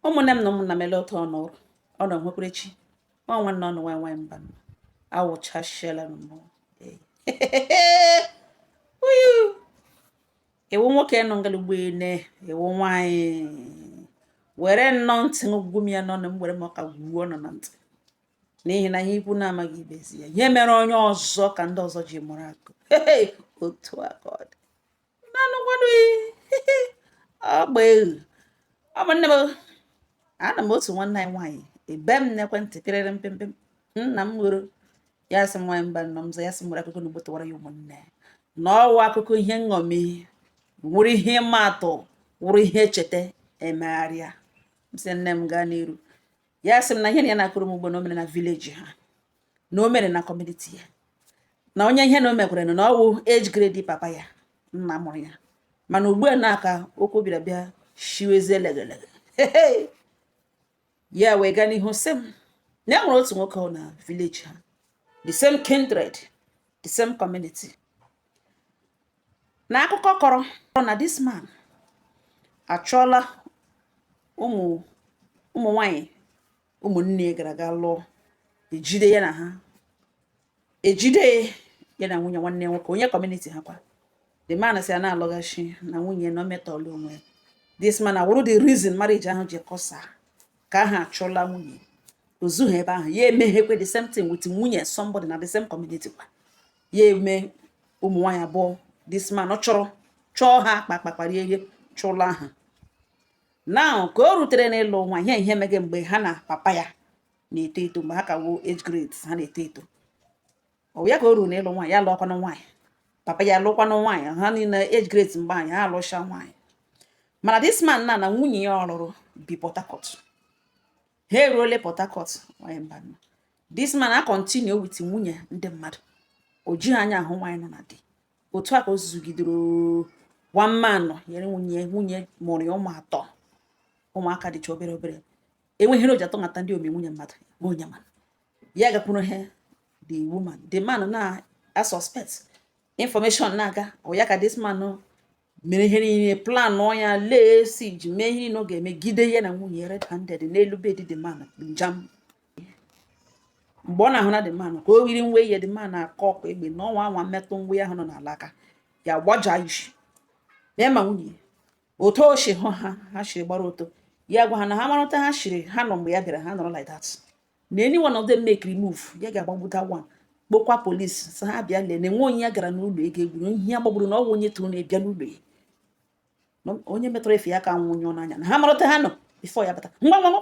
ụmụnne m na ụmụnna m ele otu ọ nọrọ ọ nọ nwekwara echi nwa nwanne unu nwa nwaanyị mba awụchasịala m mmụọ ị wụ nwoke nọ ngala ụgbọelu ị wụ nwaanyị were nnọọ ntị ngwugwu m ya n'ọnụ m were m ụka gwuo unu na ntị n'ihi na ihe ikwu na-amaghị ibe ezi ya ihe mere onye ọzọ ka ndị ọzọ ji mụrụ akọ otu aka ọ dị ụmụnne m anọ m otu nwanne anyị nwaanyị ebee m n'ekwentị pịrịrị pịm pịm na m woro ya sị m nwaanyị mba nọ m ya sị nwere akụkọ na gbotawara ya ụmụnne na ọ wụ akụkọ ihe nṅomi wụrụ ihe ịma atụ wụrụ ihe echeta emegharịa m sị nne m gaa n'iru ya sị m na ihe na ya na-akọrọ m ugbu a na o mere na vileji ha na o mere na kọmuniti ya na onye ihe na o mekwere na ọ wụ age grade papa ya nna mụrụ ya mana ugbu a na ka okwu bịara bịa shiwezie legelege ya wee gaa n'ihu sị m na e nwere otu nwoke na vileji ha the same kindred the same community na akụkọ kọrọ na this man achụla ụmụ ụmụ nwanyị ụmụnne ya gara ga lụọ ejide ya na ha ejide ya na nwunye nwanne nwoke onye kọmuniti ha kwa the man si a na-alọghachi na nwunye na emetọla onwe this man awụrụ the reason marriage ahụ ji kọsa ka ha chụla nwunye o zughị ebe ahụ ya emeghekwe the same thing with nwunye somebody na the same community kwa ya eme ụmụ nwaanyị abụọ this man ọ chọrọ chọọ ha kpakpakparie ihe chụla ha now ka o rutere n'ịlụ nwa ihe ihe meghe mgbe ha na papa ya na-eto eto mgbe ha ka wụ age grade ha na-eto eto ọ ya ka o ruru n'ịlụ nwaanyị ya lụọkwanụ nwaanyị papa ya lụọkwanụ nwaanyị ha niile age grade mgbe ahụ ha alụcha nwaanyị mana this man na na nwunye ya ọ lụrụ bi Port Harcourt ha eruole Port Harcourt nwanyị mba this man a continue with nwunye ndị mmadụ o jighị anya ahụ nwaanyị nọ na di otu a ka o zugidere one man nwere nwunye nwunye mụrụ ya ụmụ atọ ụmụaka dịcha obere obere enweghị ihe o ji atọ mata ndị ome nwunye mmadụ ma onye ma ya gakwuru ha the woman the man na a suspect information na-aga ọ ya ka this man mere ihe niile planụ ya lee si ji mee ihe niile ọ ga-eme gide ya na nwunye ya red-handed n'elu bedi the man njam mgbe ọ na-ahụ na the man ka o yiri uwe ya the man akọkụọ egbe na ọ nwaa anwaa metụ uwe ya ahụ nọ n'ala aka ya gbaja isi ya ma nwunye otu o si hụ ha ha siri gbara ọtọ ya gwa ha na ha mara otu ha siri ha nọ mgbe ya bịara ha nọrọ like that na any one of them makere move ya ga-agbagbu that one kpọọkwa polisi sị ha bịa lele nwe onye ya gara n'ụlọ ego egburu ihe ya gbagburu na ọ wụ onye tụrụ na-abịa n'ụlọ ya Na onye metụrụ efe ya aka nwunye ọ n'anya na ha mara otu ha nọ before ya bata ngwa ngwa ngwa.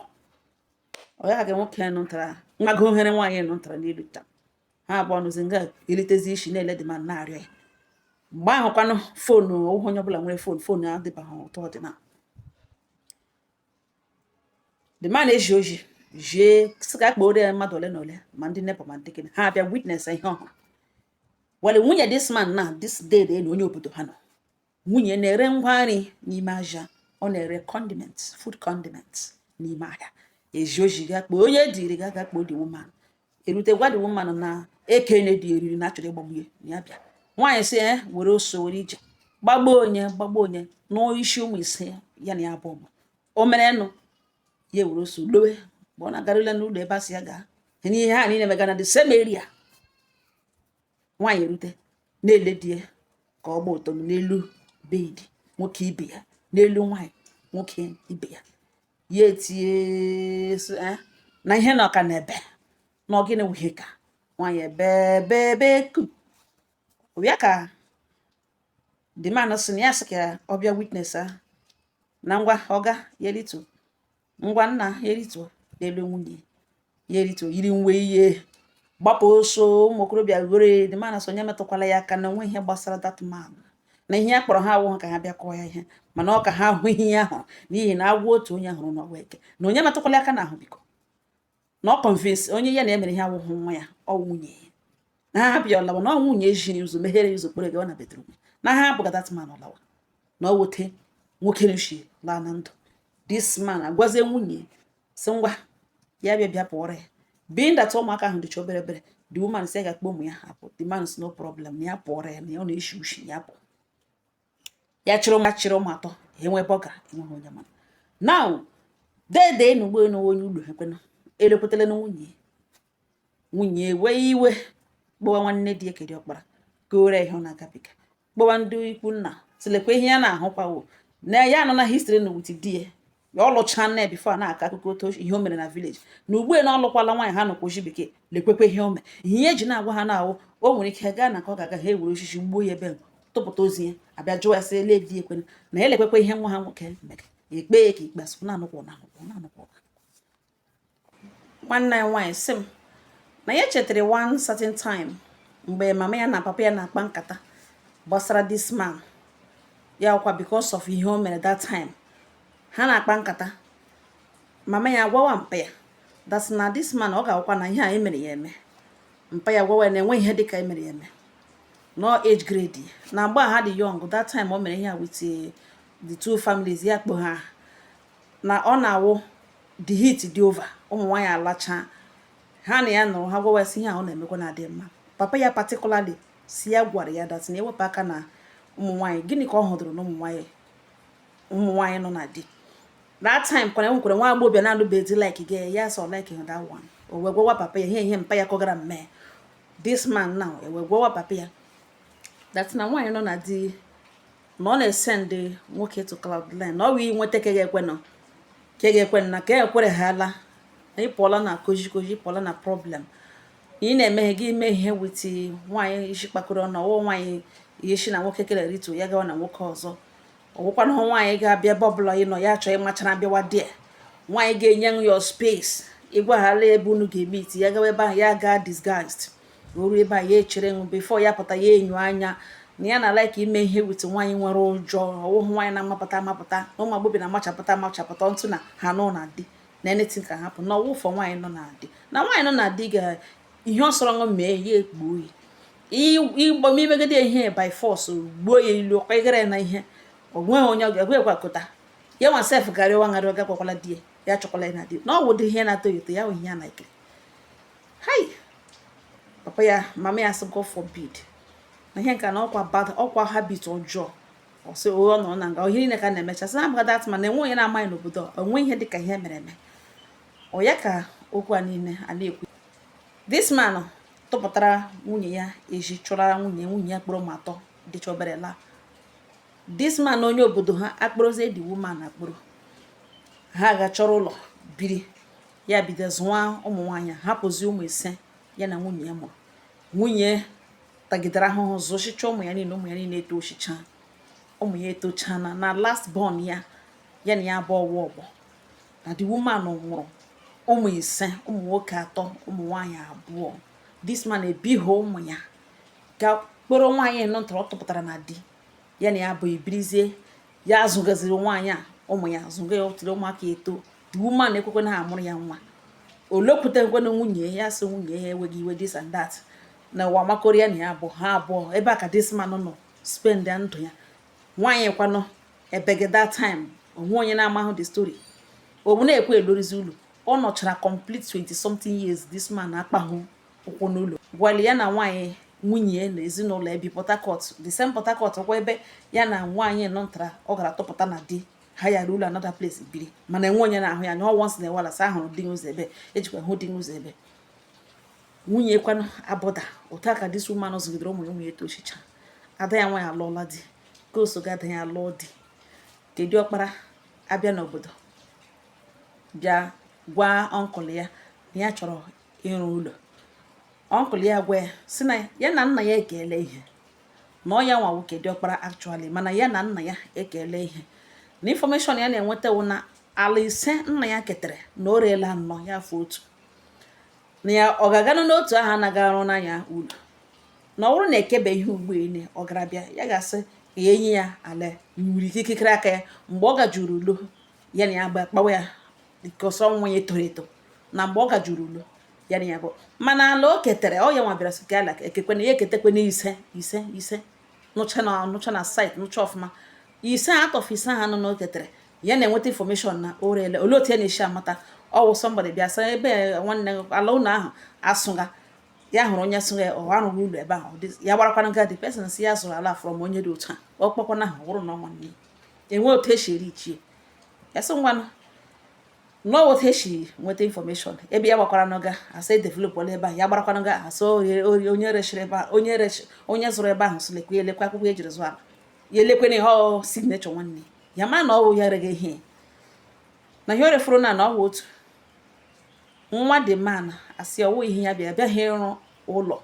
ọ ya ga nwoke nụ ntara nwago ohere nwaanyị nụ ntara n'elu taa ha abụọ nọzi nga elitezi isi na-ele the man na-arịọ ya mgbe ahụ kwanụ foonu ọ wụhụ onye ọbụla nwere foonu foonu adịbaghị otu ọ dị now the man ezie ozi zie sị ka a kpọọrọ ya mmadụ ole na ole ma ndị neighbour ma ndị gịnị ha abịa witness ihe ọ hụ while nwunye this man na this dede onye obodo ha nọ nwunye na-ere ngwa nri n'ime ahịa ọ na-ere condiments food condiments n'ime ahịa ezie ozi ga kpọọ onye e ziri ga ga kpọọ the woman erute gwa the woman na ekene di eriri na a chọrọ ịgbagbu ya ya bịa nwaanyị sị ya eh, were ọsọ were ije gbagbuo onye gbagbuo onye nụọ isi ụmụ ise ya na ya bụ ọgba o mere nụ ya were ọsọ lọwa mgbe ọ na-agarụla n'ụlọ ebe a sị ya gaa n'ihe ha niile mega na the same area nwaanyị erute na-ele di ya ka ọ gba ọtọ n'elu bed nwoke ibe ya n'elu nwaanyị nwoke ibe ya ya etie sị, "Eh, na ihe na ọka na-ebe na ọ gịnị wụ ihe ka nwaanyị ebe ebe ebekwa akwa the man sị na ya sị ka ọ bịa witness a na ngwa ọga ya rituo ngwa nna ya rituo n'elu nwunye ya erituo yiri nwe ya gbapụ ọsọ ụmụ okorobịa were the man sị onye metụkwala ya aka na o nwe ihe gbasara that man na ihe a kpọrọ ha awụghị ka ha bịa kụọ ya ihe mana ọ ka ha hụ ihe ya hụrụ n'ihi na agwọ otu onye hụrụ na-awụ eke na onye metụkwala aka na ahụ biko na ọ convince onwe ya na emere ihe awụghị nwa ya ọ nwunye ya na ha hapụ ya ọ lawa na ọ nwunye ejiri ụzọ meghere ụzọ kpọrọ gawa na bedroom na ha hapụ that man ọ lawa na ọ wụ otu nwoke ahụ shi laa na ndụ this man agwazie nwunye sị ngwa ya bịa bịa pụọrọ ya being that ụmụaka ahụ dịcha obere obere the woman sị ga-akpọ ụmụ ya apụ the man sị no problem na ya pụọrọ ya na ya ọ na-eshi ushi ya pụ ya chịrị ụmụ chịrị ụmụ atọ enwe ebe ọ gara enweghị onye ma na now dede na ugbu a onye ụlọ ekwena elekwetala na nwunye nwunye wee iwe kpọwa nwanne di ya nke di ọkpara kọọrọ ya ihe ọ na-agabiga kpọwa ndị ikwu nna sị lekwa ihe ya na-ahụkwa o na ya anụna history na with di ya ọ lụchaane before a na-akọ akụkọ otu ihe o mere na village na ugbu na ọ lụkwala nwaanyị ha nọkwa oji bekee lekwekwa ihe o mere ihe eji na-agwa ha na-awụ o nwere ike gaa na ka ọ ga-aga ha ewere osisi gbuo ya ebe tụpụta ozu ya abịa jụọ ya sị ele di ekwena na ya elekwekwa ihe nwa ha nwoke mere ekpee ka ikpe a sị na-anọkwa na-anọkwa na-anọkwa nwanne anyị nwaanyị sị m na ya chetara one certain time mgbe mama ya na papa ya na-akpa nkata gbasara this man ya wụkwa because of ihe o mere that time ha na-akpa nkata mama ya gwawa mpa ya that na this man ọ ga-awụkwa na ihe emere ya eme mpa ya gwawa na enwe ihe dịka emere ya eme no age grade na mgbe ha dị young that time o mere ihe a with eh, the two families ya kpọ ha na ọ na-awụ the heat dị over ụmụ nwaanyị alachaa ha na ya nọrọ ha gwawa ya sị ihe a ọ na-emekwa na adị mma papa ya particularly sị ya gwara ya that na ewepụ aka na ụmụ nwaanyị gịnị ka ọ hụdụrụ na ụmụ nwaanyị ụmụ nwaanyị nọ na di that time kwana enwekwara nwa agbọghọbịa na-alụbeghị di like gị ya sọ like him that one o wee gwawa papa ya ihe ihe mpa ya kọgara mme this man now o wee gwawa papa ya that na nwaanyị nọ na di na ọ na-esend nwoke to cloud nine na ọ wee nweta ka ga-ekwe nọ ka ga-ekwe na ka ekwere ha ala na ịpụọla na koji koji ịpụọla na problem na ị na-emeghe gị ime ihe with nwaanyị isi kpakọrọ ọnụ ọwụ nwaanyị ihe si na nwoke kere rịtu ya gawa na nwoke ọzọ ọwụkwana hụ nwaanyị ga-abịa ebe ọbụla ị nọ ya chọọ ịmachara bịawa dị nwaanyị ga-enye ya space ị gwahala ebe unu ga-emeet ya gawa ebe ahụ ya gaa disguised o ru ebe a ya echere ṅụ before ya pụta ya enyo anya na ya na-alike ime ihe with nwaanyị nwere ụjọ ọwụhụ nwaanyị na-amapụta amapụta na ụmụ agbọghọ na-amachapụta amachapụta ntụ na ha nọ na di na anything ka hapụ na ọwụfọ nwaanyị nọ na di na nwaanyị nọ na di ga ihe ọ sọrọ ṅụ mee ya ekpuo oyi ịgba m imegide ihe by force gbuo ya ilu ọkwa ịgara ya na ihe ọ nweghị onye ọ ga-egwe ekwakọta ya nwa sef garịwa ngarị ọ gakwakwala di ya ya chụkwala ya na di na ọ wụ ụdị ihe na-atọ ya ụtọ ya wụ ihe ya na-ekiri hai papa ya mama ya sị God forbid na ihe nka na ọkwa bad ọkwa habit ọjọọ ọsị ụgha nọ na nga ihe niile ka na-emecha sị na that man enwe onye na-amaghị n'obodo onwe ihe dịka ihe emere eme ọ ya ka okwu a niile a na-ekwu this man tụpụtara nwunye ya eji chụra nwunye nwunye ya kpụrụ ụmụ atọ dịcha obere laa this man onye obodo ha akpụrụzie the woman akpụrụ ha ga chọrọ ụlọ biri ya bido zụwa ụmụ nwaanyị hapụzi ụmụ ise ya na nwunye ya mụrụ nwunye tagidere ahụhụ zụchicha ụmụ ya niile ụmụ ya niile etochicha ụmụ ya etochana na last born ya ya na ya bụ ọgbọ na the woman mụrụ ụmụ ise ụmụ nwoke atọ ụmụ nwaanyị abụọ this man ebighị ụmụ ya ga kpọrọ nwaanyị nọ ntọrọ tụpụtara na di ya na ya abụọ ebirizie ya azụgaziri nwaanyị a ụmụ ya azụga ya until ụmụaka eto woman ekwekwe na a mụrụ ya nwa olekwute nkwenụ nwunye ya sị nwunye ya enweghị iwe this and that na ụwa makọrọ ya na ya bụ ha abụọ ebe a ka this man nọ spendia ndụ ya nwaanyị kwanụ ebege that time o nwe onye na-amahụ the story ọ wụ na-ekwu elorizi ụlọ ọ nọchara complete 20 something years this man akpahụ ụkwụ n'ụlọ gwali ya na nwaanyị nwunye na ezinụlọ ebi Port Harcourt the same Port Harcourt kwa ebe ya na nwaanyị nọ ntara ọ gara chọpụta na di hayara ụlọ another place biri mana enwe onye na-ahụ ya anya ọ once in a while a sị a hụrụ di n'ụzọ ebe ejikwa hụ di n'ụzọ ebe nwunye kwanụ abụda otu a ka this woman zụgidere ụmụ ya ụmụ ya etochicha ada ya nwaanyị alụọla di nke soga ada ya alụọ di nke diọkpara abịa n'obodo bịa gwa uncle ya na ya chọrọ ịrụ ụlọ uncle ya gwa ya sị na ya na nna ya ekele ihe na ọ ya nwa nwoke diọkpara actually mana ya na nna ya ekele ihe na information ya na-enweta wụ na ala ise nna ya ketere na o reela anọ ya afọ otu na ya ọ ga-aganụ n'otu ahụ anaghị arụ n'anya ụlọ na ọ bụrụ na e kebe ihe ugbo ele ọ gara bịa ya ga-asị ka ya enye ya ala iwuru ike ikikere aka ya mgbe ọ ga-eji rụọ ụlọ ya na ya gba kpawa ya because ọ nwa ya toro eto na mgbe ọ ga-eji rụọ ụlọ ya na ya bụ mana ala o ketere ọ ya nwa bịara sị ka ala ekekwe na ya eketekwe na ise ise ise nọcha na nọcha na site nọcha ọfụma ise out of ise anọ na o ketere ya na-enweta information na o reele olee otu ya na-esi amata ọ wụ somebody bịa sị ebe nwanne ala ụlọ ahụ asụga ya hụrụ onye sụga or a rụga ụlọ ebe ahụ ya gbarakwana nga the person sị ya zụrụ ala from onye dị otu a ọ kpọkwana aha wụrụ na ọ nwanne enwe otu esi ereach ya ya sị ngwanụ nọọ otu esi nweta information ebe ya gbakwara nga a sị edevelopụla ebe a ya gbarakwa nga a sị onye rechiri ebe a onye rechi onye zụrụ ebe ahụ sị lekwa elekwa akwụkwọ e jiri zụọ ala ya elekwe na ihe ọ signature nwanne ya ma na ọ wụ ya rega ihe na ihe o refuru na na ọ wụ otu nwa the man asị ọ wụ ihe ya bịa bịaghị ịrụ ụlọ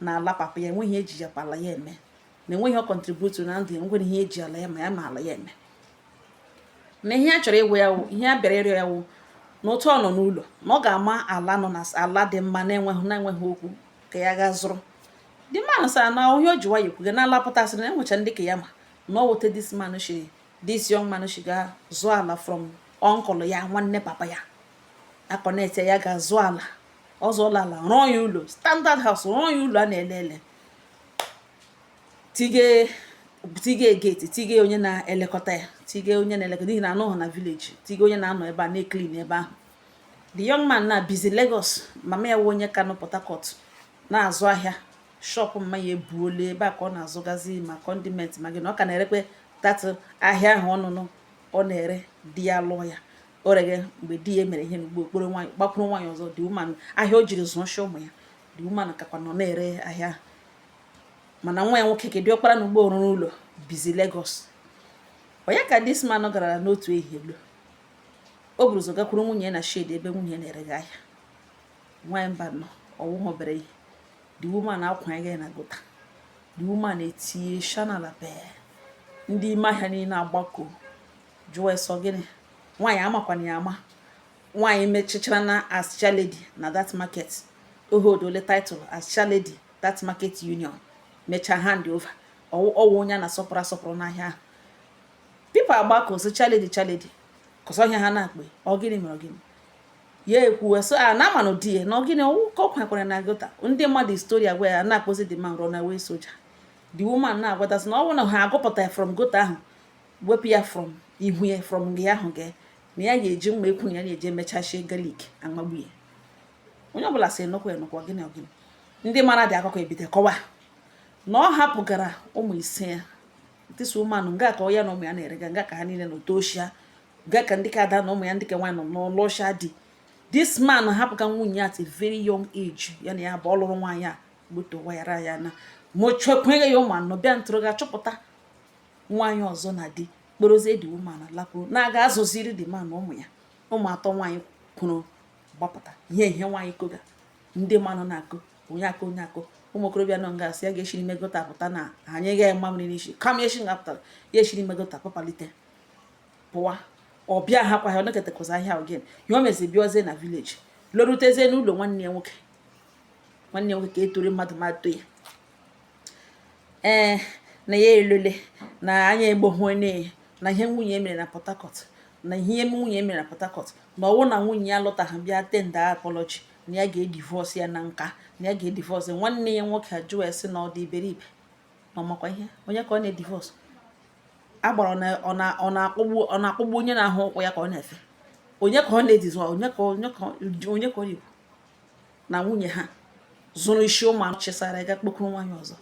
na ala papa ya enweghị eji ya pala ya eme na enweghị ọ contribute na ndụ ya nweghị ihe eji ala ya ma ya ma ala ya eme na ihe ya chọrọ ịgwa ya wụ ihe ya bịara ịrịọ ya wụ na otu ọ nọ n'ụlọ na ọ ga-ama ala nọ na ala dị mma na-enweghị na-enweghị okwu ka ya gaa zụrụ the man asị na onye o ji nwayọ kwuga na ala pụtasịrị na enwecha ndị ka ya mma na ọ wụ otu a this man shi this young man shi ga zụọ ala from uncle ya nwanne papa ya aconnect ya ga zụọ ala ọ zụọla ala rụọ ya ụlọ standard house rụọ ya ụlọ a na-ele ele tige tige gate tige onye na-elekọta ya tige onye na-elekọta n'ihi na anọghị na village tige onye na-anọ ebe a na-eclean ebe ahụ the young man na bizi Lagos mama ya wụ onye ka nọ Port Harcourt na-azụ ahịa shop mama ya ebuola ebe a ka ọ na-azụgazi ma condiment ma gị na ọ ka na-erekwe that ahịa ahụ ọnụnụ ọ na-ere di ya lụọ ya o reghe mgbe di ya emere ihe n'ugbo okporo nwaanyị gbakwuru nwaanyị ọzọ the woman ahịa o jiri zụọ shi ụmụ ya the woman kakwa nọ na-ere ahịa mana nwa ya nwoke ke dị ọkpara n'ugbo ọ rụrụ ụlọ bizi Lagos ọ ya ka this man gara n'otu ehihie lo o buru ụzọ gakwuru nwunye na shed ebe nwunye na-erega ahịa nwaanyị mbanụ ọ wụhụ obere ihe the woman akwanye ya na gutter the woman etinye ishi n'ala bee ndị ime ahịa niile agbakọ jụọ asị ọ gịnị nwaanyị amakwana ya ama nwaanyị mechichara nọ as chairlady na that market o holdọla title as chairlady that market union mechaa hand over ọ wụ onye a na-asọpụrụ asọpụrụ n'ahịa ahụ people agbakọ so chairlady chairlady kọsọ ihe ha na-akpe ọ gịnị mere gịnị ya ekwuwe so a ah, na amanụ di ya na ọ gịnị ọ wụ ka ọ kwekwara na gutter ndị ma the history agwa ya na-akpọzi the man run away soldier the woman na-agwatasị na ọ bụrụ na ha agụpụta from gutter ahụ wepụ ya from ihu ya from gị ahụ gị na ya ga-eji mma ekwu na ya na-eji emechachie garlic amagbu ya onye ọbụla sị enụkwa enụkwa gịnị ọ gịnị ndị mara the akụkọ ebido kọwa na ọ hapụgara ụmụ ise ya na this woman nga ka ọ ya na ụmụ ya na-erega nga ka ha niile nọ tochaa nga ka ndị ka ada na ụmụ ya ndị ka nwaanyị nọ lụcha di this man hapụga nwunye at a very young age ya na ya bụ ọ lụrụ nwaanyị a gbutowayara ya na mụchakwanye ya ụmụ anọ bịa ntụrụ gaa chọpụta nwaanyị ọzọ na di kpọrọzie the woman lakwuru na-aga azụziri the man ụmụ ya ụmụ atọ nwaanyị kwuru gbapụta ihe ihe nwaanyị koga ndị mmadụ na-akụ onye akụ onye akụ ụmụ okorobịa nọ nga asị ya ga-eshiri ime gutter pụta na anyị gaghị mma mmiri n'isi kama eshi nga pụtara ya eshiri ime gutter papalite pụwa ọ bịahakwa ha ọnekọtakwazi ahịa again ya o mezi bịazie na village lorutezie n'ụlọ nwanne ya nwoke nwanne ya nwoke ka etore mmadụ ma to ya ee na ya elele na anya egbohue na na ihe nwunye mere na port harcourt na ihe nwunye mere na port harcourt na ọ wụ na nwunye ya lọtaghị bịa tender apology na ya ga-edivorce ya na nka na ya ga-edivorce nwanne ya nwoke ajụọ ya sị na ọ dị iberibe na ọ makwa ihe onye ka ọ na-edivorce agbara ọ na-akpọgbu onye na-ahụ ụkwụ ya ka ọ na-efe onye ka ọ na-edisown onye ka onye ka onye ka ọ na-ekwu na nwunye ha zụrụ isi ụmụ anụ chesara ga kpokuru nwaanyị ọzọ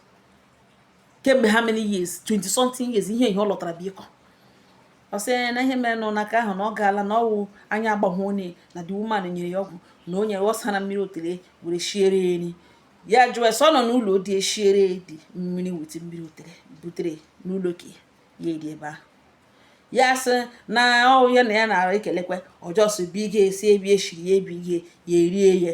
kemgbe how many years 20 something years ihe ihe ọ lọtara bụ ịkọ ọ sị na ihe mere nọ n'aka ahụ na ọ gaala na ọ wụ anya agbahụ onye na the woman nyere ya ọgwụ na o nyere ọ sara mmiri otele were shiere eri ya jụọ sọ nọ n'ụlọ dị eshiere dị mmiri wete mmiri otele butere n'ụlọ ka ya eri ebe ahụ ya sị na ọ wụ ya na ya na-ara ekelekwa ọ just bi gị esi ebi eshiri ya ebi gị ya erie ya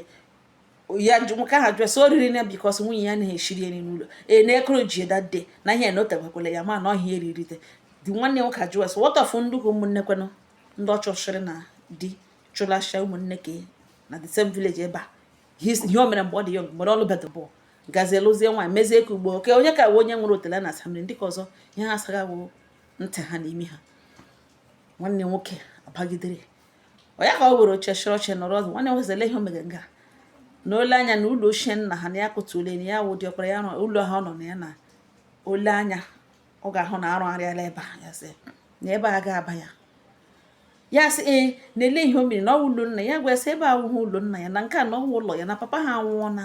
ya nwoke ahụ jụọ sị o riri na because nwunye ya anaghị eshiri eri n'ụlọ e na-ekoro ji dade na ihe na o tebekwala ya ma na ọhịa eririte di nwanne nwoke ajụọ sị what of ndị ụkwụ ụmụnne kwenụ ndị ọchọchịrị na di chụlasịa ụmụnne ka na the same village ebe a ihe o mere mgbe ọ dị young mgbe ọ lụbedị bọọlụ gazie lụzie nwaanyị mezie ka ugbo oke onye ka onye nwere otele na-asa mmiri ndị nke ọzọ ihe ha asaga wụ ntị ha na imi ha nwanne nwoke abagidere ọ ya ka ọ were oche chịrị ọchị nọrọ ọzọ nwanne nwoke ihe o mere nga na o le anya na ụlọ ochie nna ha na ya kụtụle na ya wụ ọkpara ya ụlọ ha ọ nọ na ya na o le anya ọ ga-ahụ na arụgharịala ebe a ya sị na ebe a ga-aba ya ya sị ee na-ele ihe o mere na ọ wụ ụlọ nna ya gwa sị ebe a awụghị ụlọ nna ya na nke a na ọ wụ ụlọ ya na papa ha anwụọ na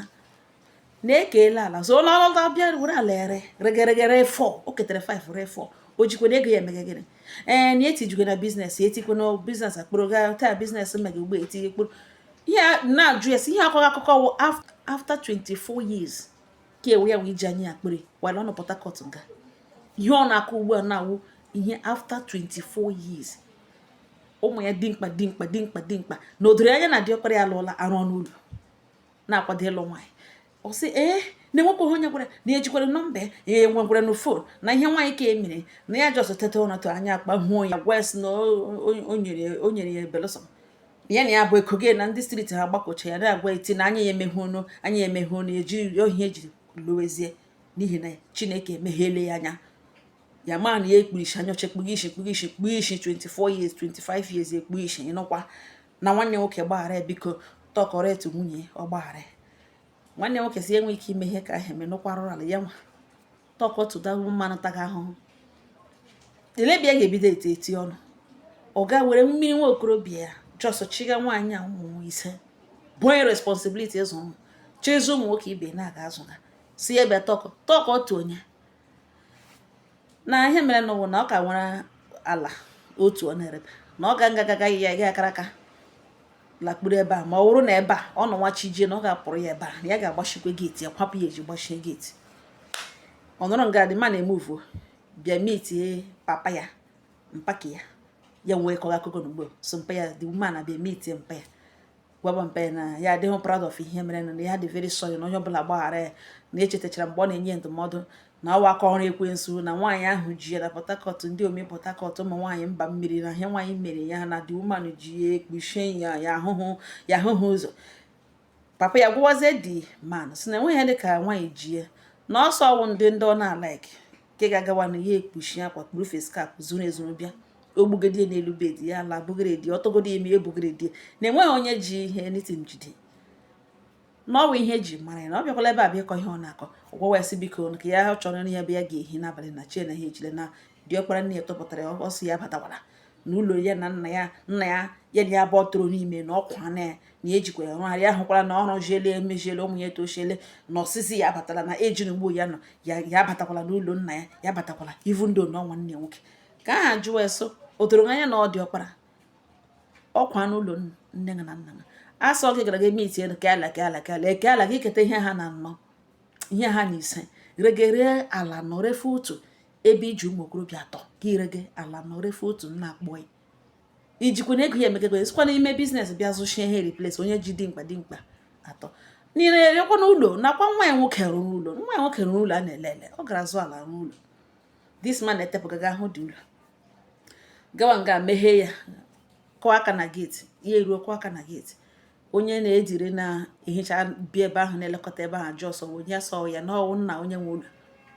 na ekeela ala so na ọ lọta bịa were ala ere rege rege re 4 o ketere 5 re 4 o jikwa na ego ya emeghe gịnị ee na etijikwa na business etikwa na business akpụrụ ga start business mega ugbo etinye kpụrụ ihe na-ajụ ya si ihe akọga akụkọ wụ after 24 years ka ewe ya wee ji anyị akpịrị wala ọ nọ Port Harcourt nga ihe ọ na-akọ ugbu a na-awụ ihe after 24 years ụmụ ya dimkpa dimkpa dimkpa dimkpa na o doro anya na diọkpara ya alụọla arụ ọnụ ụlọ na-akwado ịlụ nwaanyị ọ sị ee na enwekwaghị onye gwara na ya ejikwara nọmba ya enwegwara na phone na ihe nwaanyị ka emere na ya just teta ụra tụ anya akpa hụo ya gwa sị na o nyere ya belụsọ ya na ya bụ eko gị na ndị street ha gbakọcha ya na-agwa eti na anya ya emeghe ọnụ anya ya emeghe ọnụ eji ohi ejiri lụwezie n'ihi na Chineke emeghele ya anya ya ma na ya ekpuru isi anya ọcha ekpughe isi ekpughe isi ekpughe isi 24 years 25 years ekpughe isi ịnụkwa na nwanne nwoke gbaghara biko talk to nwunye ọ gbaghara nwanne nwoke sị enwe ike ime ihe ka ahụ eme nụkwara ala ya nwa talk to the woman ọ taga ahụhụ ele ebe a ga-ebido eti eti ọnụ ọ ga were mmiri nwa okorobịa ya just chiga nwaanyị a ụmụ ise bunye responsibility ịzụ ụmụ chọ ịzụ ụmụ nwoke ibe na-aga azụ ha sị ya bịa talk talk to nwunye na ihe mere n'ụwa na ọ ka nwere ala otu ọ na-ereta na ọ ga ngagaga ya ga akara aka lakpuru ebe a ma ọ bụrụ na ebe a ọ nọ nwa chi jie na ọ ga-apụrụ ya ebe a na ya ga-agbachikwa gate ya kwapụ ya ezi gbachie gate ọ nọrọ nga the man emuvu bịa mitie papa ya mpa nke ya ya wee kọga akụkọ n'ugbo so mpa ya the woman abịa mitie mpa ya gwaba mpa ya na ya adịghị proud of ihe mere na ya dị very sorry na onye ọbụla gbaghara ya na echetachara mgbe ọ na-enye ndụmọdụ na ọ wụ aka ọrụ ekwensu na nwaanyị ahụ ji ya na Port Harcourt ndị ome Port Harcourt ụmụ nwaanyị mba mmiri na ihe nwaanyị mere ya na the woman ji ya ekpuchie ya ya ahụghị ụzọ papa ya gwawazie the man si na enweghị ihe dịka nwaanyị ji ya na ọ sọ ọ wụ ndị ndị ọ na-alaiki nke ga-agawa na ya ekpuchi akwa kpuru face cap zuru ezuru bịa ogbugedie n'elu bed ya ala bụgịrịdị ọtọgodo eme ebugịrịdị na enweghị onye ji ihe nothing jide na ọ wụ ihe eji mara ya na ọ bịakwala ebe a bịa ịkọ ihe ọ na-akọ ọ gwawa ya sị biko ka ya chọrọ ya ebe ya ga-ehi n'abalị na chi na ha ejile na diọkpara nne ya chụpụtara ya ọsọ ya batakwara na ụlọ ya na nna ya nna ya ya na ya bụ ọtụrụ n'ime na ọkwa na ya na ejikwa ya rụgharị ya hụkwara na ọrụ jiele emejiele ụmụ ya etochiele na ọsịsị ya abatala na eji na ugbo ya nọ ya ya abatakwala n'ụlọ nna ya ya abatakwala ivu ndị na nwanne nwoke ka ha jụwa ya sị o doro gị anya na ọ wụ diọkpara ọkwa n'ụlọ nne na nna ha asọ gị gara gị eme iti elu keala keala keala eke ala gị keta ihe ha na anọ ihe ha na ise regere ala anọ refọ otu ebe iji ụmụ okorobịa atọ ka ire gị ala anọ refọ otu nna akpọị ijikwa na ego ya emegego esikwa n'ime business bịa zụchie ihe replace onye ji dimkpa dimkpa atọ niile rekwa n'ụlọ nakwa nwa ya nwoke rụrụ ụlọ nwa ya nwoke rụrụ ụlọ a na-ele ele ọ gara zụ ala rụrụ ụlọ this man etepụgaga ahụ dị ụlọ gawa nga meghee ya kụọ aka na geeti ya eruo kụọ aka na geeti onye na-ejiri na-ehicha bi ebe ahụ na-elekọta ebe ahụ ajụọ sị ọ onye ọ sị ya na ọ wụ nna onye nwe ụlọ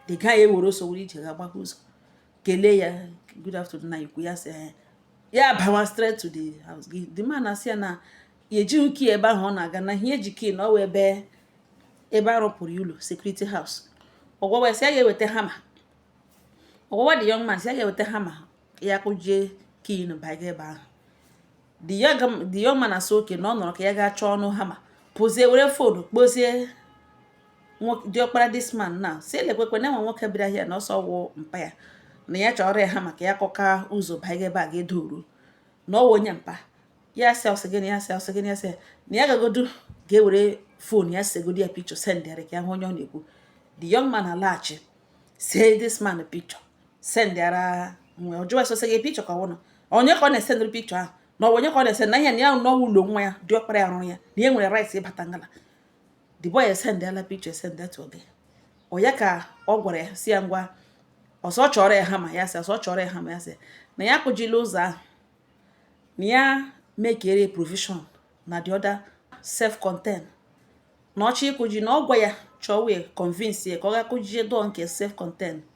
the guy ewere ọsọ were ije ga gbapụ ụzọ kelee ya good afternoon nna ukwu ya sị eh, ya bawa straight to the house gị the man asị ya na ya ejighị key ebe ahụ ọ na-aga na ihe ya ji key na ọ wụ ebe ebe arụpụrụ ya ụlọ security house ọ gwawa ya sị ya ga-eweta hammer ọ gwawa the young man sị ya ga-eweta hammer ya kụjie key na baga ebe ahụ the young man asị okay na ọ nọrọ ka ya gaa chọọnụ hammer pụzie were phone kpọzie diọkpara this man na si lekwekwe na enwe nwoke bịara here na ọ sị ọ wụ mpa ya na ya chọrọ ya hammer ka ya kụka ụzọ banye ebe a ga-edoru na ọ wụ onye mpa ya sị ọsị gịnị ya sị ọsị gịnị ya sị na ya gagodu ga-ewere phone ya segodi ya picture sendịara ya ka ya hụ onye ọ na-ekwu the young man alaghachi see this man picture sendịara nwa ọ jụwa sị o see gị picture ka ọ wụnụ onye ka ọ na-esendịrị picture ahụ na ọ wụ onye ka ọ na-ese na ihe na ya na ọ wụ ụlọ nwa ya diọkpara ya rụrụ ya na ya nwere rights ịbata ngala the boy esendịala picture esendị to ọga ya ka ọ gwara ya si ya ngwa ọ sị chọrọ ya hammer ya sị na ya kụjila ụzọ ahụ na ya mekere provision na the other self-contain na ọ chọ ịkụji na ọ gwa ya chọọ wee convince ya ka ọ ga kụjie door nke self-contain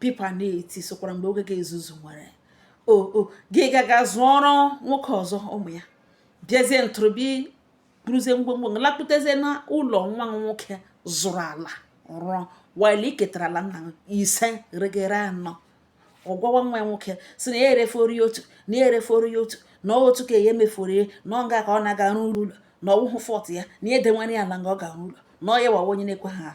pipa na-eti sokwara mgbe oge ga-ezuzu were ego gị gaga zụọrọ nwoke ọzọ ụmụ ya bịazie ntụrụbi buruzie ngwongwo lakputezie na ụlọ nwa nwoke zụrụ ala rụọ while i ketara ala nna ise regere anọ ọ gwawa nwa ya nwoke sị na ya erefọrọ otu na ya erefọrọ otu na otu ka ya emefọrọ na ọ nga ka ọ na-aga arụ ụlọ na ọ wụhụ fault ya na ya edewere ala nga ọ ga-arụ ụlọ na ọ ya wawa onye na-ekwe ha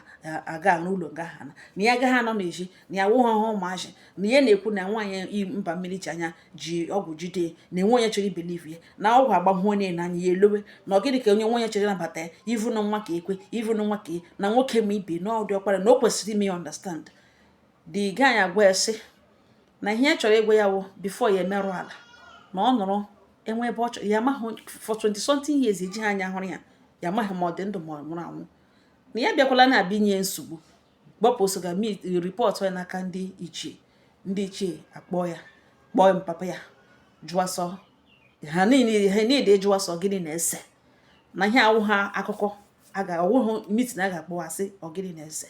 aga arụ ụlọ nga ha na na ya agaghị anọ n'ezi na ya wụghị ọhụụ ụmụazị na ya na-ekwu na nwaanyị mba mmiri ji anya ji ọgwụ jide na enwe onye chọrọ ị believe ya na ọgwụ agbahụ onye n'anya ya elowe na ọ gịnị ka onye nwaanyị chọrọ ịnabata ya even na nwa ka ekwe even na nwa ka e, na nwoke ma ibe na ọ diọkpara na o kwesịrị ime ya understand the guy agwa ya sị na ihe ya chọrọ ịgwa ya wụ before ya emerụ ala na ọ nụrụ enwe ebe ọ chọrọ ya amaghị for 20 something years eji ha anya hụrụ ya ya amaghị ma ọ dị ndụ ma ọ nwụrụ anwụ na ya bịakwala na-abịa inye nsogbu gbapụ ọsọ ga report ya n'aka ndị ichie ndị ichie akpọ ya kpọọ mpapa ya jụọ sọ ha niile jụọ sị ọ gịnị na-ese na ihe awụha akụkọ ọ wụhụ meeting a ga-akpọwa sị ọ gịnị na-ese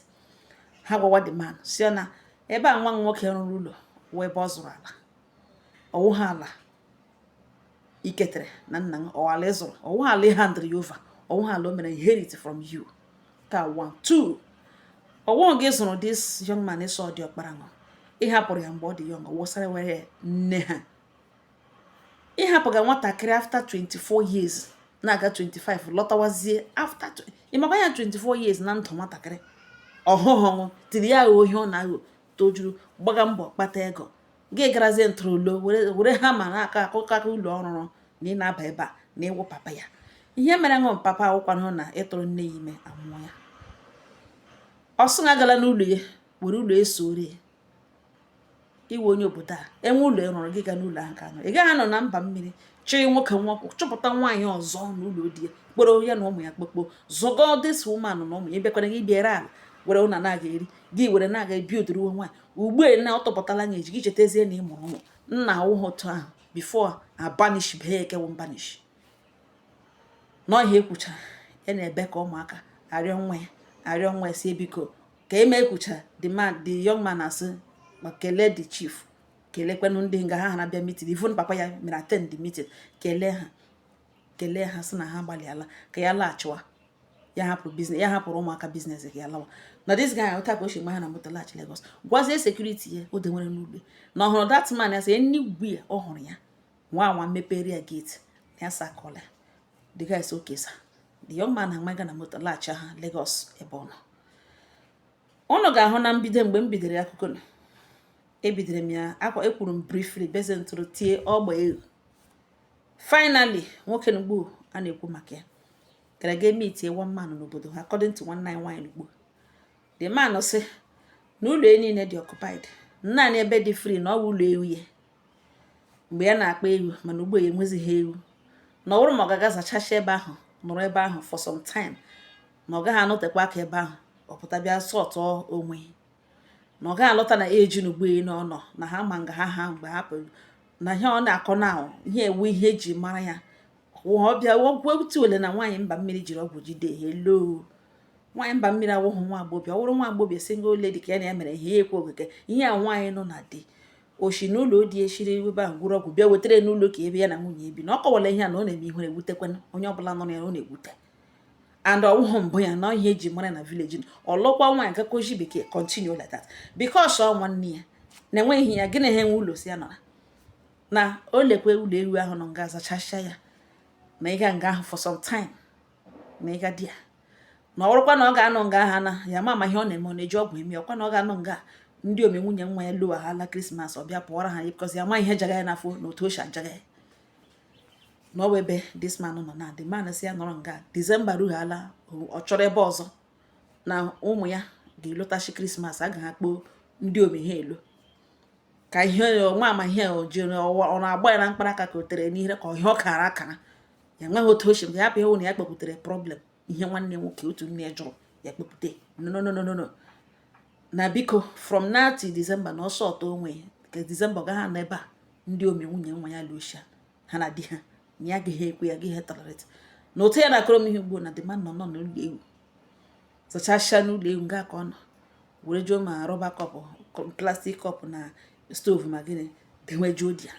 ha gwawa the man sị na ebe a nwa nwoke rụrụ ụlọ wụ ebe ọ zụrụ ala ọ wụha ala i ketere na nna gị ọ wụ ala ị zụrụ ọ wụ ala ị handịrị ya over ọ wụ ala o mere inherit from you ka one two ọ wụ gị zụrụ this young man ị sị ọ diọkpara nwa ị hapụrụ ya mgbe ọ dị young wụsara were nne ha ị hapụga nwatakịrị after 24 years na-aga 25 lọtawazie after ị makwa ya 24 years na ndụ nwatakịrị ọhụhụ tiri ya agha ohi ọ na-aghọ tojuru gbaga mbọ kpata ego gị garazie ntụrụlo were ha ma na-aga akụ aka ụlọ ọ rụrụ na ị na-aba ebe a na ị wụ papa ya ihe mere ị wụ papa awụkwanụ na ị tụrụ nne ya ime amụọ ya ọ sị na gala n'ụlọ ya were ụlọ eso ore ya iwe onye obodo a enwe ụlọ ị rụrụ gị ga n'ụlọ ahụ ka nọ ị gaghị anọ na mba mmiri chịrị nwoke nwa chọpụta nwaanyị ọzọ n'ụlọ di ya kporo ya na ụmụ ya kpokpo zụgo this woman na ụmụ ya bịakwara gị bịara ala were ụna na-aga eri gị were na-aga ebi odoro nwaanyị ugbu a na ọ tọpụtala gị eji gị chetazie na ị mụrụ ụmụ nna awụghị otu ahụ before a banish bee ya ekewo mbanish n'ọhịa ekwuchara ya na-ebe ka ụmụaka arịọ nwa ya arịọ nwa ya sị biko ka eme ekwuchara the man the young man asị ma kelee the chief kelekwanụ ndị nga ha ha na-abịa meeting even papa ya mere attend the meeting kelee ha kelee ha sị na ha gbalịala ka ya laghachiwa ya hapụrụ business ya hapụrụ ụmụaka business ka ya lawa na this guy otu a ka o si gba ha na moto laghachi Lagos gwazie security ya o denwere n'ugbe na ọ hụrụ that man ya sị enigwe ya ọ hụrụ ya nwa nwa mepere ya gate na ya sakọla the guy sị okay sir the young man amaba na moto laghachi ha Lagos ebe ọ nọ ụnụ ga-ahụ na mbido mgbe m bidoro akụkọ na ebidoro m ya akwa ekwuru m briefly beze ntụrụ tie ọgba egwu finally nwoke n'ugbu a na-ekwu maka ya gara ga meetie one man n'obodo ha according to nwanne anyị nwaanyị n'ugbo the man sị na ụlọ ya niile dị occupied naanị ebe dị free na ọ bụ ụlọ ewu ya mgbe ya na-akpa ewu mana ugbu a ya enwezighị ewu na ọ bụrụ ma ọ ga-aga zachacha ebe ahụ nọrọ ebe ahụ for some time na ọ gaghị anọtekwa aka ebe ahụ ọ pụta bịa sort out onwe na ọ gaghị alọta na eji n'ugbo ya n'ọnọ na ha ma nga ha ha mgbe ha pụrụ na ihe ọ na-akọ na ihe a wụ ihe e ji mara ya ọ bịa ọgwụ otu ole na nwaanyị mba mmiri jiri ọgwụ jide ya hello nwaanyị mba mmiri awụghị nwa agbọghọ ọ wụrụ nwa agbọghọ single lady ka ya na ya mere ihe ekwe okike ihe a nwaanyị nọ na di o shi n'ụlọ di eshiri ebe ahụ gwọrọ ọgwụ bịa wetara n'ụlọ ka ebe ya na nwunye ebi na ọ kọwara ihe a na ọ na-eme ihere ewutekwana onye ọbụla nọ na ya ọ na-ewute and ọ wụghị mbụ ya na ihe e ji mara na village ọ lụkwa nwaanyị gakoji bekee continue like that because ọ nwanne ya na enweghị ya gịnị ha enwe ụlọ si ya nọra na o lekwe ụlọ ewu ahụ nọ nga zachasịa ya na ịga nga ahụ for some time na ịga di ya na ọrụkwa na ọ ga-anọ nga ha na ya ma ama ihe ọ na-eme ọ na-eji ọgwụ eme ọkwa na ọ ga-anọ nga ndiom nwunye nwa ya lọwa ha ala Christmas ọ bịa pụọra ha ya because ya ma ihe jaga ya n'afọ na otu o si ajaga ya na ọ wụ ebe this man nọ na the man sị ya nọrọ nga December ruhala ọ chọrọ ebe ọzọ na ụmụ ya ga-alọtachi Christmas a ga ha kpọ ndiom ha alọ ka ihe ọma ama ihe o jiri ọ na-agba ya na mkpara aka ka o tere n'ihere ka ọhịa ọ kara akara ya nweghị otu o shi ya hapụ ihe na ya kpepụtara problem ihe nwanne nwoke otu nne ya jụrụ ya kpepụta no no no no no na biko from now till December na ọ sort out onwe ka December gaghị anọ ebe a ndiom nwunye nwa ya lọcha ha na di ha na ya gaghị ekwe ya gaghị tolerate na otu ya na-akọrọ m ihe ugbo na the man nọ nọ n'ụlọ ewu zachasịa n'ụlọ ewu nga ka ọ nọ were ji ma rubber cup plastic cup na stove ma gịnị dewejuo di ya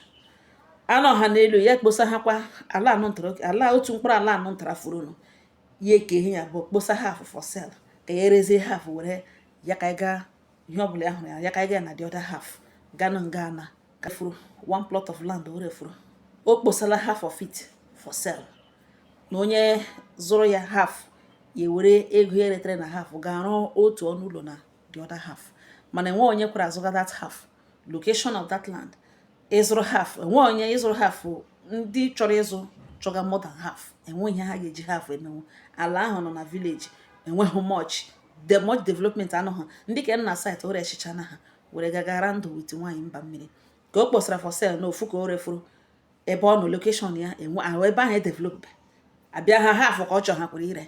anụ ọha n'elu ya kposa ha kwa ala anụ ntara ala otu mkpụrụ ala anụ ntara fọrọnụ ya ekee ya abụọ kposa half for sale ka ya erezie half were ya ka gaa ihe ọbụla ya hụrụ ya ya ka gaa na the other half ga-anọ nga ana ka fọrọ one plot of land were fọrọ o kposala half of it for sale na onye zụrụ ya half ya were ego ya eretere na half ga-arụ otu ọnụ ụlọ na the other half mana enwe onye kwere azụga that half location of that land ịzụrụ half enwe onye ịzụrụ half ndị chọrọ ịzụ chọga more than half enwe ihe ha ga-eji half emenwu ala ahụ nọ na village enweghị much much development anụ ha ndị ka nọ na city o rechichana ha were gagara ndụ with nwaanyị mba mmiri ka o kposara for sale na ofu ka o refuru ebe ọ nọ location ya enwe ahụ ebe ahụ edevelopbe abịa ha half ka ọ chọ ha kwere ire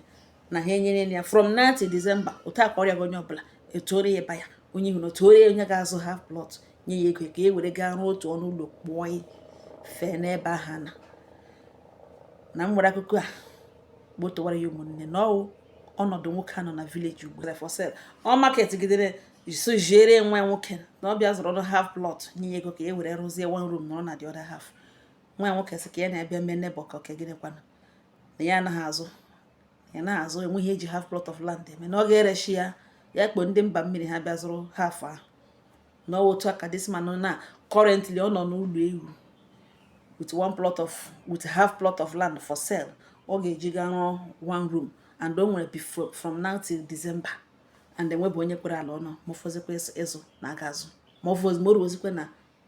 na ha enyere ya from now till December otu a ka ọ rịọ onye ọbụla etuore ya ebe ya onye ihu na otuore onye ga-azụ half plot nye ya ego ka e were gaa rụọ otu ọnụ ụlọ kpụọ ya fee n'ebe ahụ na na m nwere akụkọ a gbotowara ya ụmụnne na ọwụ ọnọdụ nwoke a nọ na village ugbu a for sale ọ marketgidere so ziere nwa nwoke na ọ bịa zụrụ ọrụ half plot nye ego ka e were rụzie one room nọrọ na the other half nwa nwoke sị ka ya na-abịa mee neighbor ka oke gịnịkwana na ya anaghị azụ ya na azụ enwe ihe eji half plot of land eme na ọ ga-erechi ya ya kpọ ndị mba mmiri ha bịa zụrụ half ahụ na otu a ka this man na currently ọ nọ n'ụlọ ewu with one plot of with half plot of land for sale ọ ga-eji gaa rụọ one room and o nwere from now till December and enwebụ onye kwere ala ọnụ ma ọ fọzikwa ịzụ na aga azụ ma ọ fọzi ma o ruozikwa na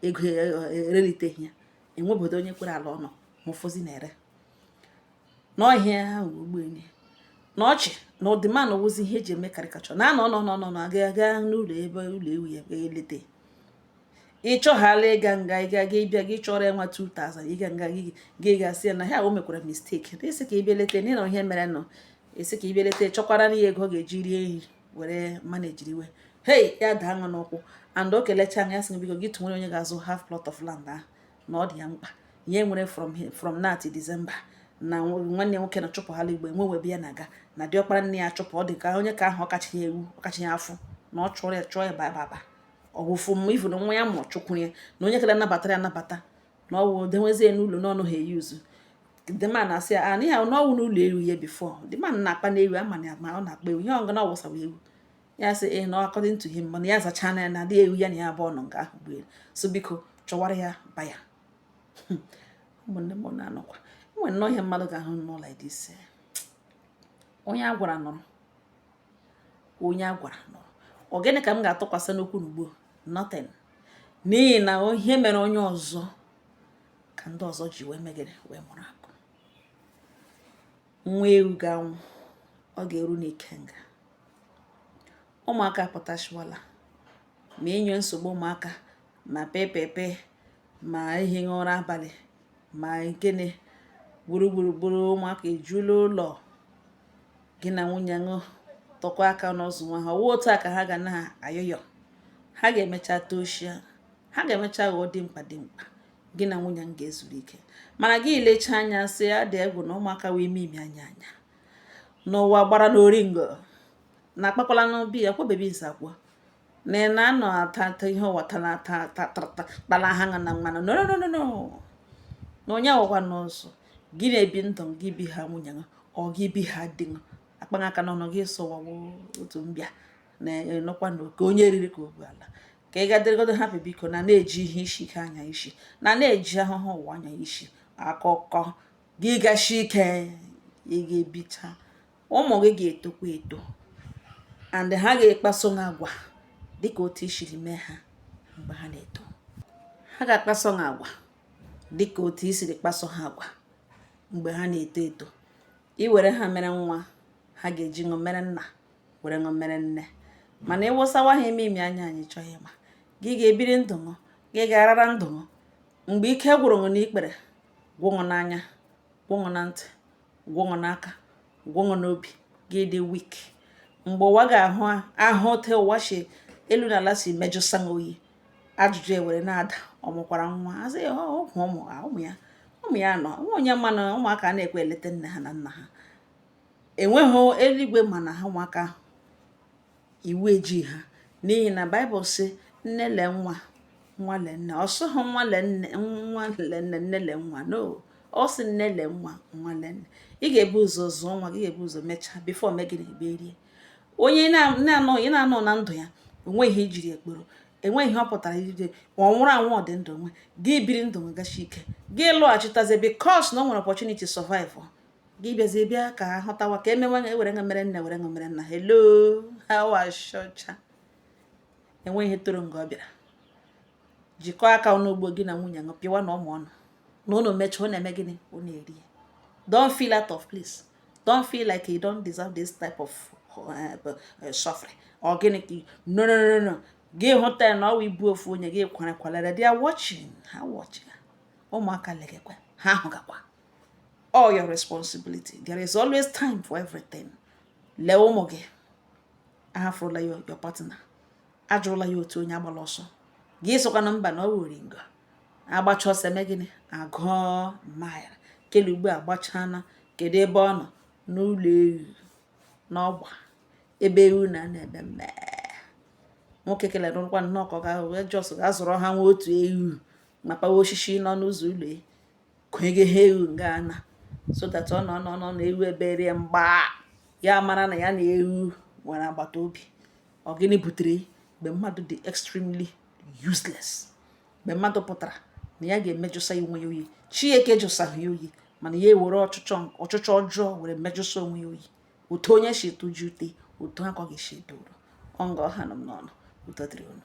ego e, e, ereliteghị ya enwebodo onye kwere ala ọnụ ma ọ fọzi na ire n'ọhịa ahụ ogbenye na ọchị na the man a wụzi ihe eji eme caricature na anọ nọ nọ nọ aga aga n'ụlọ ebe ụlọ ewu ya elete ịchọghala ịga nga ịga gị bịa gị chọrọ ya nwa 2000 ịga nga gị gị gasị ya na ha o mekwara mistake ị sị ka ị bịa lete n'ịnọ ihe mere nọ ị sị ka ị bịa lete chọkwara na ya ego ga-eji rie ihe were manejiriwe hei ya daa nwa n'ụkwụ and o kelecha ya sị biko gị tụnwere onye ga-azụ half plot of land ahụ na ọ dị ya mkpa ya nwere from from now to December na nwanne nwoke na chụpụghala igbo enwewe ebe ya na-aga na diọkpara nne ya chụpụ ọ dị ka ọ nke ahụ ọ kachi ya ewu ọ kachi ya afụ na ọ chụrụ ya chụọ ya baba ọwụfụ mma ifu na nwa ya ma ọ chụkwuru ya na onye kere anabata ya anabata na ọwụ dewezie n'ụlọ n'ọnụ ha eyi uzu the man asị ya na ya nọwa n'ụlọ ewu ya before the man akpana ewu ama na ma ọ na-akpa ewu ihe ọngụ na ọwụsawa ewu ya sị ee na according to him mana ya zachaa na ya na adị ewu ya na ya abụọ nọ nga ahụ gbere so biko chọwara ya ba ya ụmụnne m na-anọkwa enwere nnọọ ihe mmadụ ga-ahụ nọ like this onye a gwara nụrụ onye a gwara nụrụ ọ gịnị ka m ga-atụkwasị n'okwu n'ugbo nothing n'ihi na ihe mere onye ọzọ ka ndị ọzọ ji wee mee gịnị wee mụrụ akọ nwa ewu ga-anwụ ọ ga-eru n'ikenga ụmụaka pụtachịwala ma inye nsogbu ụmụaka ma pepepe ma ehighị ụra abalị ma gịnị gburugburu ụmụaka ejula ụlọ gị na nwunye ṅụ tụkọọ aka ọnụ zụwa ha ọ wụ otu a ka ha ga na-ayọyọ ha ga-emecha toshia ha ga-emecha ghọọ dimkpa dimkpa gị na nwunye ṅụ ga-ezuru ike mana gị lecha anya sị ya dị egwu na ụmụaka wee ime ime anya anya n'ụwa gbara n'oringo na akpakwala n'obi ya kwabebi nzakwa na ị na-anọ ata ata ihe ụwa tara ata ata tata kpara ha ṅa na mmanụ no no no no na onye awụkwa n'ụzọ gị na-ebi ndụ gị bi ha nwunye ṅa or gị bi ha di ṅa akpaghị aka n'ọnụ gị sụwawo otu mbịa na ị nọkwa na oke onye eriri ka ogbu ala ka ị ga-adịrịgodo hapụ biko na na-eji ihe isi ike anya isi na na-eji ahụhụ ụwa anya isi akụkọ gị gashi ike ị ga-ebicha ụmụ gị ga-etokwa eto and ha ga-akpaso gị agwa dịka otu i siri mee ha mgbe ha na-eto ha ga-akpaso gị agwa dịka otu i siri kpaso ha agwa mgbe ha na-eto eto i were ha mere nwa ha ga-eji ṅụ mere nna were ṅụ mere nne mana ị wụsawa ha ime ime anya anyị achọghị ịma gị ga-ebiri ndụ ṅụ gị ga-arara ndụ ṅụ mgbe ike gwụrụ ṅụ n'ikpere gwụ ṅụ n'anya gwụ ṅụ na ntị gwụ ṅụ n'aka gwụ ṅụ n'obi gị dị weak mgbe ụwa ga-ahụ ahụ otu ụwa si elu na ala si mejụsa gị oyi ajụjụ e were na-ada ọ mụkwara nwa a sị ya ọgwụ ụmụ ụmụ ya ụmụ ya nọ nwa onye mana ụmụaka na-ekwe eleta nne ha na nna ha enweghị eluigwe mana ha ụmụaka ahụ iwu ejighị ha n'ihi na baịbụl sị nne le nwa nwa le nne ọ sịghị nwa le nne nwa le nne nne le nwa no ọ sị nne le nwa nwa le nne ị ga-ebu ụzọ zụọ nwa gị ga-ebu ụzọ mechaa before i mee gịnị ebe rie onye na-anọ ị na-anọ na ndụ ya o nweghị ihe i jiri kpọrọ enweghị ihe ọ pụtara ijide ma ọ nwụrụ anwụ ọ dị ndụ nwe gị biri ndụ nwegachi ike gị lọghachitazie because na o nwere opportunity survive gị bịazie bịa ka a hụtawa ka e mewe ṅụ e were ṅụ mere nna were ṅụ mere nna hello how ashọcha enweghị ihe toro nga ọ bịara jikọọ aka ọnụ ugbo gị na nwunye ṅụ pịwa na ụmụ ụnụ na ụnụ mechaa ọ na-eme gịnị ọ na-eri ya don't feel out of place don't feel like you don't deserve this type of eh, eh, suffering or gịnị ka no no no no gị hụta ya na ọ wụ ibu ofu onye gị kwara kwalere they are watching ha watching ụmụaka legekwa ha ahụgakwa all your responsibility there is always time for everything lee ụmụ gị ahafụrụla ya your partner ajụrụla ya otu onye agbala ọsọ gị sokwana mba na ọ wuri ngo a gbacha ọsọ e mee gịnị a gụọ maịl kele ugbu a gbachana kedu ebe ọ nọ n'ụlọ ewu n'ọgba ebe ewu na na-ebe mmee nwoke kelere nkwa nnọọ ka ọ ga-ahụ wee just ga-azụrụ ha nwa otu ewu ma kpawa osisi nọ n'ụzọ ụlọ kwenyeghị ha ewu nga ana so that ọ nọ nọ nọ na ewu ebere ya mgba ya mara na ya na ewu nwere agbata obi ọ gịnị butere mgbe mmadụ dị extremely useless mgbe mmadụ pụtara na ya ga-emejụsa onwe ya oyi chineke jụsaghị ya oyi mana ya ewere ọchịchọ ọchịchọ ọjọọ were mejụsa onwe ya oyi otu onye si tụji ute otu a ka ọ ga-esi edoro ọ nga ọ ha nọ m n'ọnụ ụtọ dịrị unu